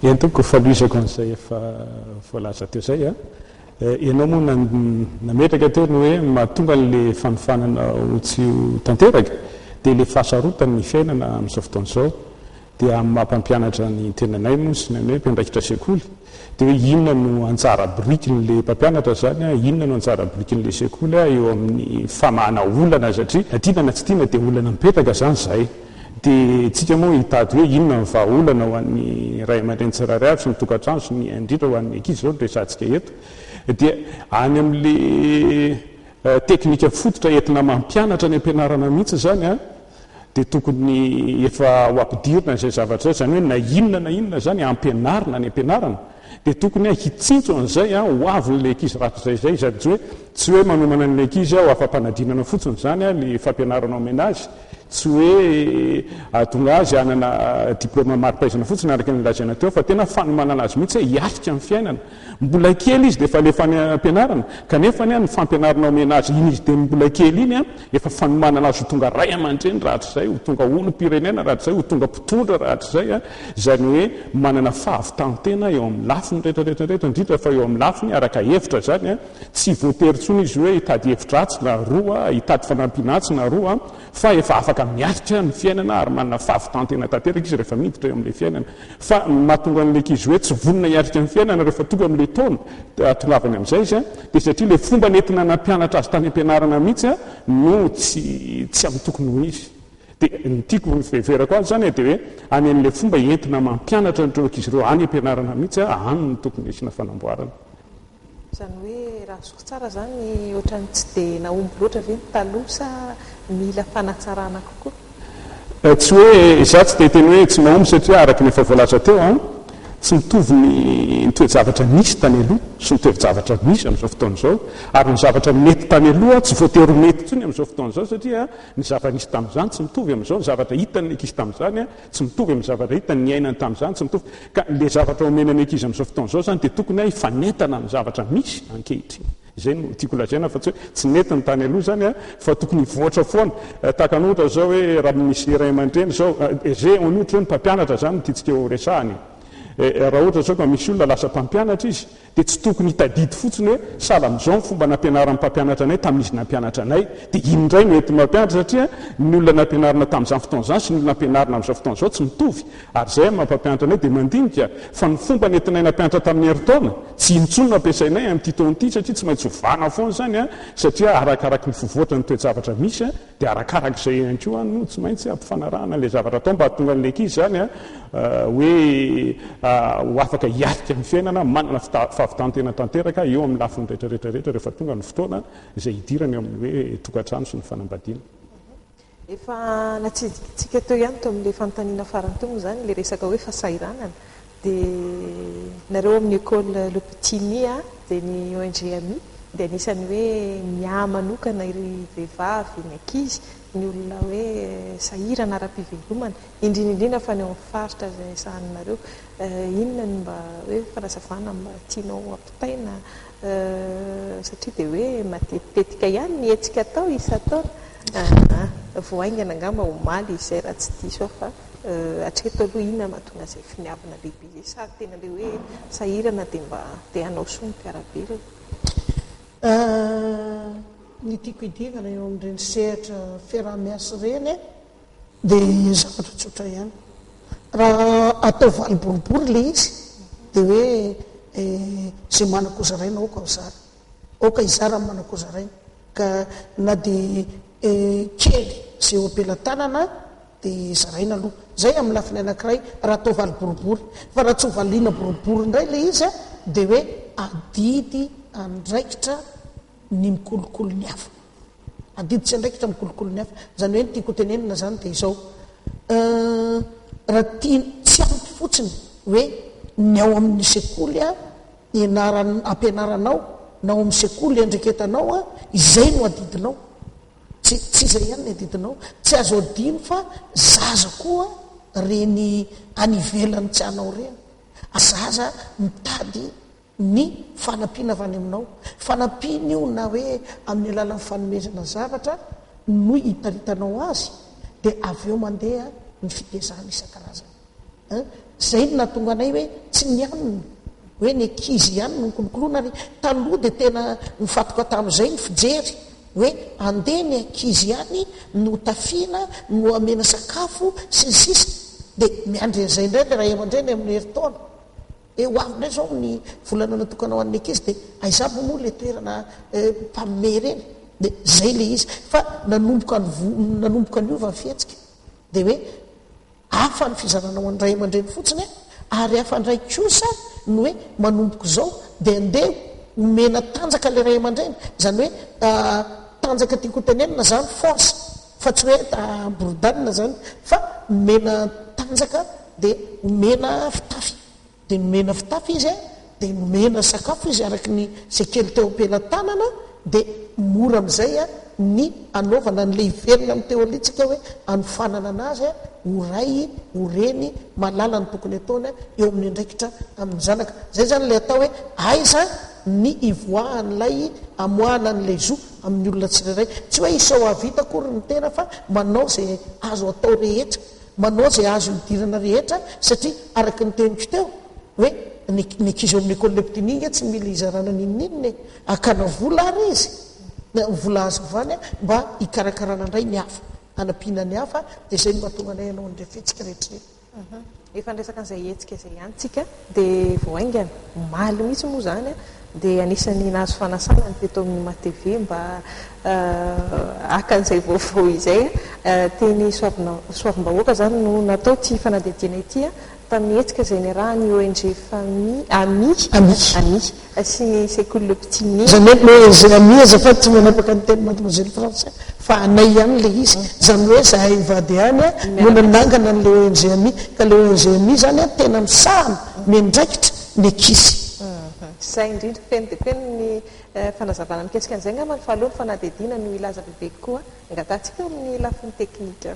Eny tompoko, fanohizako an'izay efa voalaza teo izay. Ianao moa nametraka teo ny hoe mahatonga an'ilay fanofanana ho tsy ho tanteraka dia ilay fahasarotan'ny fiainana amin'izao fotoana izao. Dia amin'ny maha mpampianatra ny tenanay moa sy ny anay mpiandraikitra sekoly, Dia hoe inona no anjara birikin'ilay mpampianatra izany an, inona no anjara birikin'ilay sekoly an, eo amin'ny famahana olana satria na tiana na tsy tiana dia olana mipetraka izany izay. Dia isika moa hitady hoe inona no vahaolana ho an'ny ray aman-dreny tsirairay avy sy ny tokantrano sy ny indrindra ho an'ny ankizy izao no resahantsika eto. Dia any amin'ilay teknika fototra entina mampianatra any am-pianarana mihitsy izany an. dia tokony efa ho ampidirina izay zavatra izay, izany hoe na inona na inona izany ampianarina any ampianarana dia tokony hitsinjo an'izay ho avin'ilay ankizy rak'izay izay, izany tsy hoe tsy hoe manomana an'ilay ankizy aho afa-panadinana fotsiny izany ilay fampianarana omena azy, tsy hoe ahatonga azy hanana diplaoma mari-pahaizana fotsiny araka ny lazaina teo fa tena fanomanana azy mihitsy hoe hiatrika ny fiainana. Mbola kely izy dia efa alefa any am-pianarana, kanefa anie ny fampianarana omena azy iny izy teny mbola kely iny, efa fanomanana azy ho tonga ray aman-dreny rahatrizay, ho tonga olom-pirenena rahatrizay, ho tonga mpitondra rahatrizay, izany hoe manana fahavitan-tena eo amin'ny lafiny rehetrarehetra, indrindra fa eo amin'ny lafiny araka hevitra izany, tsy voatery intsony izy hoe hitady hevitra atsy na aroa, hitady fanampiana atsy na aroa. fa efa afaka miaritra ny fiainana ary manana fahavitan-tena tanteraka izy rehefa miditra eo amin'ilay fiainana, fa ny mahatonga an'ilay ankizy hoe tsy vonona hiaritra ny fiainana rehefa tonga amin'ilay taona ahatongavany amin'izay izy dia satria ilay fomba nentina nampianatra azy tany am-pianarana mihitsy no tsy tsy amin'ny tokony ho izy. Dia ny tiako hiveverako azy izany dia hoe any amin'ilay fomba entina mampianatra an'ireo ankizy ireo any am-pianarana mihitsy any no tokony hisiana fanamboarana. Izany hoe raha azoko tsara izany ohatran'ny tsy dia nahomby loatra ve ny taloha sa mila fanatsarana kokoa? Tsy hoe izaho tsy te hiteny hoe tsy nahomby satria araka ny efa voalaza teo, tsy mitovy ny toe-javatra nisy tany aloha sy ny toe-javatra misy amin'izao fotoana izao ary ny zavatra nety tany aloha tsy voatery ho mety intsony amin'izao fotoana izao satria ny zava-nisy tamin'izany tsy mitovy amin'izao, ny zavatra hitan'ny ankizy tamin'izany. Tsy mitovy amin'ny zavatra hitany, niainany tamin'izany tsy mitovy. Ka ilay zavatra omena ny ankizy amin'izao fotoana izao izany dia tokony hifanentana amin'ny zavatra misy ankehitriny. Izay no tiako lazaina fa tsy hoe tsy nety ny tany aloha izany an, fa tokony hivoatra foana. Tahaka ny ohatra izao hoe raha misy ny ray aman-dreny izao, ze on ohatra hoe ny mpampianatra izany no tiantsika horesahana e. Raha ohatra izao ka misy olona lasa mpampianatra izy, dia tsy tokony hitadidy fotsiny hoe sahala amin'izao ny fomba nampianaran'ny mpampianatra anay tamin'izy nampianatra anay, dia iny indray no entin'ny mampianatra satria ny olona nampianarina tamin'izany fotoana izany sy ny olona ampianarina amin'izao fotoana izao tsy mitovy ary izay amin'ny maha-mpampianatra anay dia mandinika fa ny fomba nentinay nampianatra tamin'ny herintaona tsy iny intsony no ampiasainay amin'ity taona ity satria tsy maintsy ovana foana izany satria arakaraky ny fivoatra ny toe-javatra misy Dia arakaraka izay ihany koa no tsy maintsy hampifanarahana ilay zavatra atao mba hahatonga an'ilay ankizy izany hoe ho afaka hiatrika ny fiainana, manana fahavitan-tena tanteraka eo amin'ny lafiny rehetra rehetra rehetra rehefa tonga ny fotoana izay hidirany ao amin'ny hoe tokantrano sy ny fanambadiana. Efa natsidikintsika teo ihany tao amin'ilay fanontaniana farany teo moa izany ilay resaka hoe fahasahiranana. Dia nareo amin'ny Ecole Le Petit Mi a, dia ny ONG Ami dia anisan'ny hoe miahy manokana iry vehivavy, ny ankizy, ny olona hoe sahirana ara-pivelomana, indrindra indrindra fa ny ao amin'ny faritra izay sahaninareo. Inona ny mba hoe fanazavana mba tianao hampitaina satria dia hoe matetitetika ihany ny hetsika atao isan-taona. Vao haingana angamba omaly izay raha tsy diso aho fa. Hatreto aloha inona no hahatonga izay finiavana lehibe izay sa tena ilay hoe sahirana dia mba te hanao soa ny mpiara-belona? Ny tiako hidiovana eo amin'ireny sehatra fiaraha-miasa ireny dia zavatra tsotra ihany. Raha atao valo boribory ilay izy dia hoe izay manan-ko zaraina aoka ho zara. Aoka hizara ny manan-ko zaraina ka na dia kely izay eo am-pelatanana dia zaraina aloha izay amin'ny lafiny anankiray raha atao valo boribory fa raha tsy ho valiana boribory indray ilay izy dia hoe adidy andraikitra ny mikolokolo ny hafa adidy tsy andraikitra mikolokolo ny hafa izany hoe ny tiako hotenenina izany dia izao raha tia tsy ampy fotsiny hoe ny ao amin'ny sekoly a ianaran ampianaranao na ao amin'ny sekoly iandreketanao a izay no adidinao Tsy tsy izay ihany ny adidinao, tsy azo adino fa zaza koa reny any ivelany tsy anao reny, zaza mitady ny fanampiana avy any aminao, fanampiana io na hoe amin'ny alalan'ny fanomezana zavatra no iparitanao azy dia avy eo mandeha ny fitezana isan-karazany. An! Izay no nahatonga anay hoe tsy ny anona hoe ny ankizy ihany no nikolokoloina ary taloha dia tena nifantoka tamin'izay ny fijery hoe andeha ny ankizy ihany no hotafiana, no homena sakafo sy ny sisa dia miandry an'izay indray ilay ray aman-dreny amin'ny herintaona hoe ho avy indray izao ny volana natokana ho an'ny ankizy dia aiza avy moa ilay toerana mpanome ireny? Dia izay ilay izy fa nanomboka nanomboka niova ny fihetsika dia hoe Hafa ny fizarana ho an'ny ray aman-dreny fotsiny e! ary hafa indray kosa ny hoe manomboka izao dia andeha omena tanjaka ilay ray aman-dreny, izany hoe tanjaka tiako hotenenina izany force fa tsy hoe hamboridana izany fa omena tanjaka dia omena fitafy. Dia nomena fitafy izy, dia nomena sakafo izy araka ny sekely teo am-pelatanana, dia mora amin'izay ny hanaovana an'ilay hiverina amin'ny teorintsika hoe hanofanana an'azy ho ray, ho reny, mahalala ny tokony hataony eo amin'ny andraikitra amin'ny zanaka. Izay izany ilay atao hoe aiza ny hivoahan'ilay hamoahana an'ilay zo amin'ny olona tsirairay. Tsy hoe isao hahavita akory ny tena fa manao izay azo atao rehetra. Manao izay azo hidirana rehetra satria araka ny teniko teo hoe ny ny ankizy ao amin'ny école le petit Nigue tsy mila hizarana n'inon'inona e! Hakana vola ary izy, ny vola azo avy any mba hikarakarana indray ny hafa, hanampiana ny hafa dia izay no mahatonga anay hanao an'ireny fihetsika rehetra ireny. Efa niresaka an'izay hetsika izay ihany tsika. Dia vao haingana, omaly mihitsy moa izany, dia anisan'ny nahazo fanasana ny teto amin'ny matv mba haka an'izay vaovao izay. Teny Soavimbahoaka izany no natao ity fanadihadiana ity, tamin'ny hetsika izay niarahan'ny ONG Fami, Ami, Ami, sy ny sekoly Pitinia. Izany hoe le zay amiheza fa tsy manapaka ny teny mademoiselle français fa anay ihany le izy, izany hoe zahay mivady ihany a no nanangana anle ONG ami ka le ONG ami zany a tena misahana, miandraikitra ny ankizy. Izay indrindra, feno dia feno ny fanazavana mikasika an'izay angamba ny fahaloha ny fanadihadiana no hilaza bebe kokoa angatahantsika eo amin'ny lafiny teknika.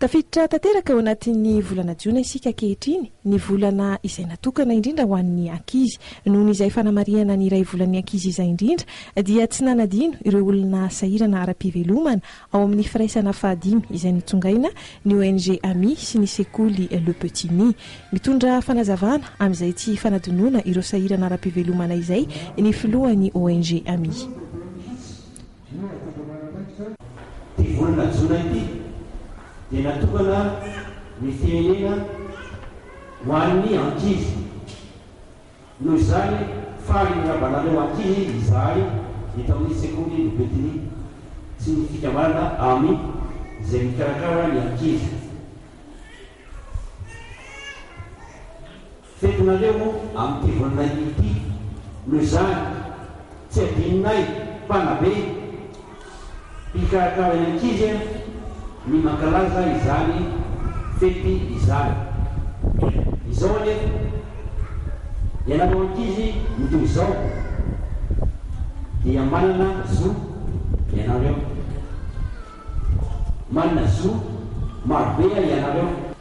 Tafiditra tanteraka ao anatin'ny volana jiona isika ankehitriny, ny volana izay natokana indrindra ho an'ny ankizy. Noho izay fanamarihana ny iray volan'ny ankizy izay indrindra, dia tsy nanadino ireo olona sahirana ara-pivelomana ao amin'ny firaisana fahadimy izay notsongaina ny ONG Ami sy ny sekoly Le Petit Nid. Mitondra fanazavana amin'izay tsy fanadinoana ireo sahirana ara-pivelomana izay ny filohan'ny ONG Ami. Inona no fomba manampaikitra? Ity volana jona ity dia natokana ny firenena ho an'ny ankizy. Noho izany, faly ny rabanareo ankizy izahay eto amin'ny sekoly ny Betiny sy ny fikambanana Ami izay mikarakara ny ankizy. Fetinareo moa amin'ity voninahiny ity. Noho izany, tsy adinonay, mpanabe, mpikarakara ny ankizy, ny mankalaza izany fety izany. Izao anefa, ianareo ankizy mitohy izao dia manana zo ianareo. Manana zo marobe ianareo.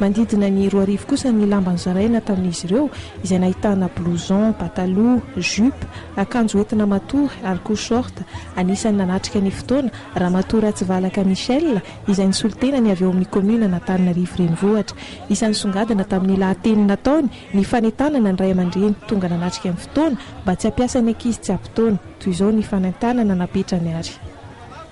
Manodidina ny roa arivo kosa ny lamba nozaraina tamin'izy ireo, izay nahitana blouson, pataloha, jupe, akanjo hoentina matory ary koa short. Anisan'ny nanatrika ny fotoana, Ramatoa Ratsivalaka Michelle, izay nisolo tenany avy ao amin'ny kaominan'Antananarivo Renivohitra. Isan'ny songadina tamin'ny lahateny nataony ny fanentanana ny ray aman-dreny tonga nanatrika ny fotoana mba tsy hampiasa ny ankizy tsy ampy taona. Toy izao ny fanentanana napetrany ary.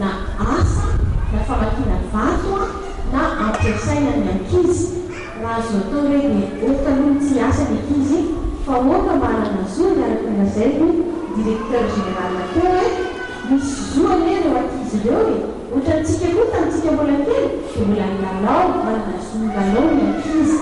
na asa na famakiana vato an na ampiasaina ny ankizy raha azo atao re dia ok aloha ny tsy hiasa ny ankizy fa ok mba hanana zo ny araka ny lazainy ny directeur général teo e misy zo anie reo ankizy ireo e otrany tsika koa tany tsika mbola kely dia mbola nilalao manana zo milalao ny ankizy.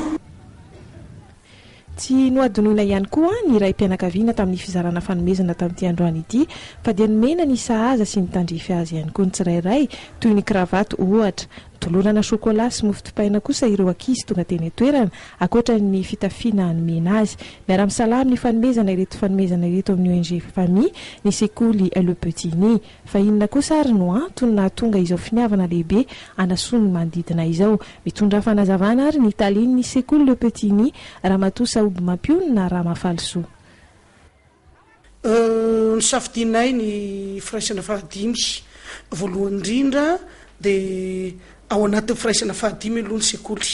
Tsy nohadinoina ihany koa ny raim-pianakaviana tamin'ny fizarana fanomezana tamin'ity androany ity fa dia nomena ny sahaza sy ny tandrify azy ihany koa ny tsirairay toy ny kravato ohatra. Nolorana chocolat sy mofo dipaina kosa ireo ankizy tonga teny an-toerana ankoatra ny fitafiana nomena azy. Miara-misalahy amin'ny fanomezana ireto fanomezana ireto amin'ny ONG Famille ny sekoly Le Petit Ny. Fa inona kosa ary no antony nahatonga izao finiavana lehibe hanasoa ny manodidina izao? Mitondrà fanazavana ary ny talen'ny sekoly Le Petit Ny, Ramatoa Sahoby Mampionona Ramafalisoa. Nosafidianay ny firaisana fahadimy. Voalohany indrindra dia ao anatin'ny firaisana fahadimy aloha ny sekoly,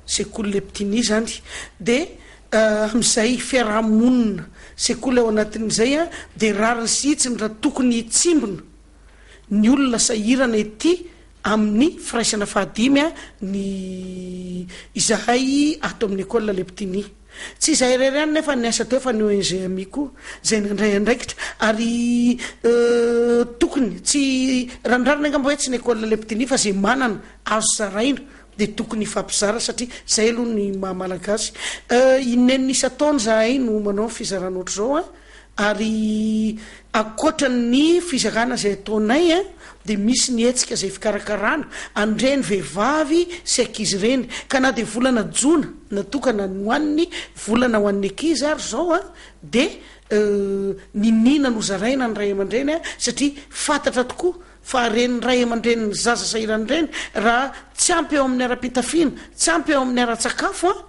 sekoly Le Petit Ny izany dia Amin'izay fiaraha-monina sekoly ao anatin'izay dia rariny sy hitsiny raha tokony hitsimbina ny olona sahirana ety amin'ny firaisana fahadimy ny izahay ato amin'ny Ecole Les Petits Nids. Tsy izahay irery ihany nefa ny asa teo fa ny ONG Ami koa izay nandray andraikitra ary tokony tsy, raha ny rariny angamba hoe tsy ny Ecole Les Petits Nids fa izay manana azo zaraina Dia tokony hifampizara satria zay aloha ny maha malagasy eh, inenina isan-taona zahay no manao fizarana ohatr'izao eh, ary ankoatra ny fizarana zay ataonay eh, dia misy ny hetsika zay fikarakarana an'ireny vehivavy sy ankizy ireny, ka na dia volana jona natokana ny ho an'ny volana ho an'ny ankizy ary izao eh, dia eh, niniana nozaraina ny ray aman-dreny eh, satria fantatra tokoa fa ren'ny ray aman-drenin'ny zaza sahirana ireny raha tsy ampy eo amin'ny ara-pitafiana, tsy ampy eo amin'ny ara-tsakafo an,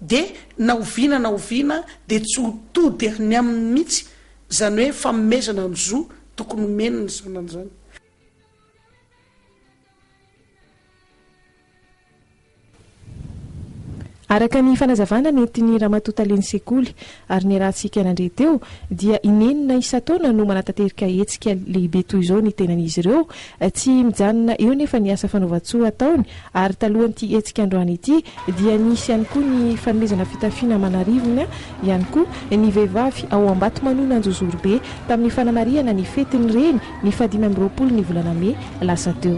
dia na oviana na oviana dia tsy ho tody any aminy mihitsy izany hoe fanomezana ny zo tokony homeny ny zanany izany. Araka ny fanazavana nentin'i Ramatoa Talen'ny Sekoly ary niarahantsika nandre teo dia inenina isan-taona no manatanterika hetsika lehibe toy izao ny tenan'izy ireo. Tsy mijanona eo nefa ny asa fanaovan-tsoa ataony ary talohan'ity hetsika androany ity dia nisy ihany koa ny fanomezana fitafiana aman'arivony ihany koa ny vehivavy ao Ambatomanona Anjozorobe tamin'ny fanamarihana ny fetin'ny reny ny fahadimy amby roapolo ny volana mey lasa teo.